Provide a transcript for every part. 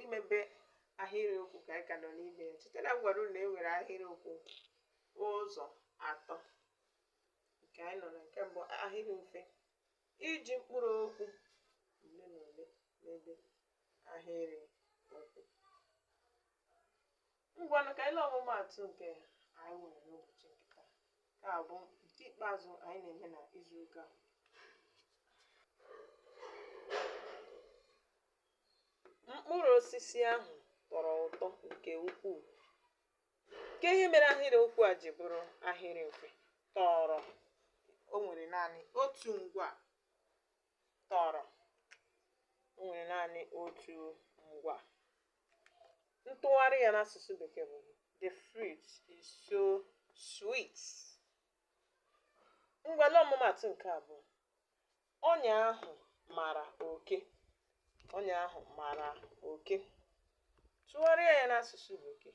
imebe ahịrịokwu ka anyị ka nọ n'ime ya cheta na m gwara unu na e nwere ahịrịokwu ụzọ atọ nke anyị nọ na nke mbụ ahịrị mfe iji mkpụrụ okwu ole na ole mebe ahịrị okwu Ngwanụ ka anyị lee ọmụmaatụ nke anyị nwere n'ụbọchị nke taa. Nke a bụ nke ikpeazụ anyị na-eme na izu ụka. Mkpụrụ osisi ahụ tọrọ ụtọ nke ukwuu. Kee ihe mere ahịrị okwu a ji bụrụ ahịrị mfe tọrọ o nwere naanị otu ngwa tọrọ o nwere naanị otu ngwa ntụgharị ya n'asụsụ bekee bụ the fruit is so sweet ngwa lee ọmụmaatụ nke abụọ ọnya ahụ mara oke ọnya ahụ mara oke tụgharịa ya n'asụsụ bekee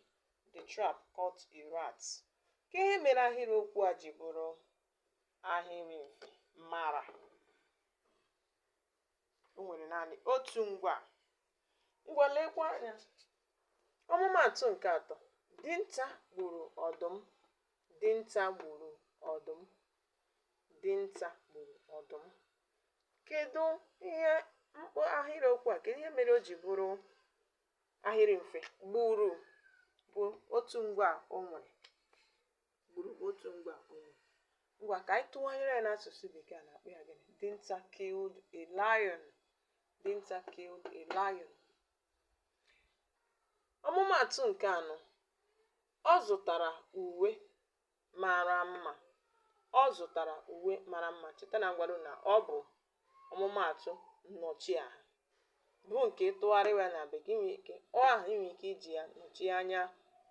the trap caught a rat kee ihe mere ahịrịokwu a ji bụrụ ahịrị mfe mara o nwere naanị otu ngwa ngwa lekwa anya ọmụmaatụ nke atọ dinta gburu ọdụm dinta gburu ọdụm dinta gburu ọdụm kedu ihe m kpọ ahịrị okwu a kedu ihe mere o ji bụrụ ahịrị mfe gburu bụ otu ngwa o nwere gburu bụ otu ngwa o nwere ngwa ka anyị tụgharịa ya n'asụsụ bekee a na-akpọ ya gịnị dinta killed a lion dinta killed a lion ọmụmaatụ nke anọ ọ zụtara uwe mara mma ọ zụtara uwe mara mma cheta na m gwara unu na ọ bụ ọmụmaatụ nnọchiaha bụ nke tụgharịwa ya na bekee i nwere ike ọ aha i nwere ike iji ya nọchie anya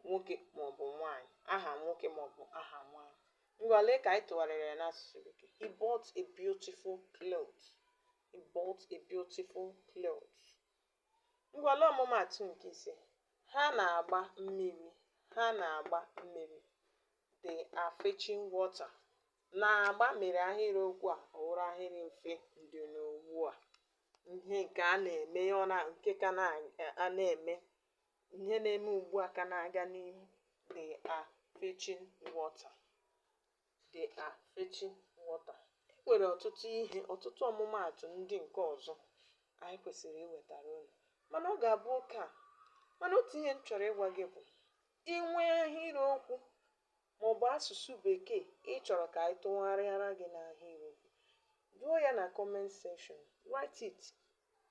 nwoke maọbụ nwaanyị aha nwoke maọbụ aha nwaanyị ngwa lee ka anyị tụgharịrị ya n'asụsụ bekee he bought a beautiful cloth he bought a beautiful cloth Ngwa lee ọmụmaatụ nke ise, Ha na-agba mmiri Ha na-agba mmiri they are fetching water na-agba mere ahịrịokwu a ọ wụrụ ahịrị mfe ndị n'ugbu a ihe nke a na-eme ọ na nke ka na-eme ihe na-eme ugbu a ka na-aga n'ihu they are fetching water They are fetching water. E nwere ọtụtụ ihe, ọtụtụ ọmụmaatụ ndị nke ọzọ anyị kwesịrị iwetara unu. Mana ọ ga-abụ oke a. Mana otu ihe m chọrọ ịgwa gị bụ i nwee ahịrịokwu maọbụ asụsụ bekee ị chọrọ ka anyị tụgharịara gị n'ahịrịokwu, jụọ ya na comment section. Write it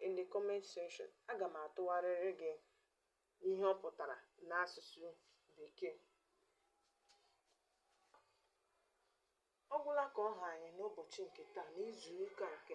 in the comment section. Aga m atụgharịrị gị ihe ọ pụtara n'asụsụ bekee ọ gwụla ka ọ ha anyị n'ụbọchị nke taa n'izu ụka nke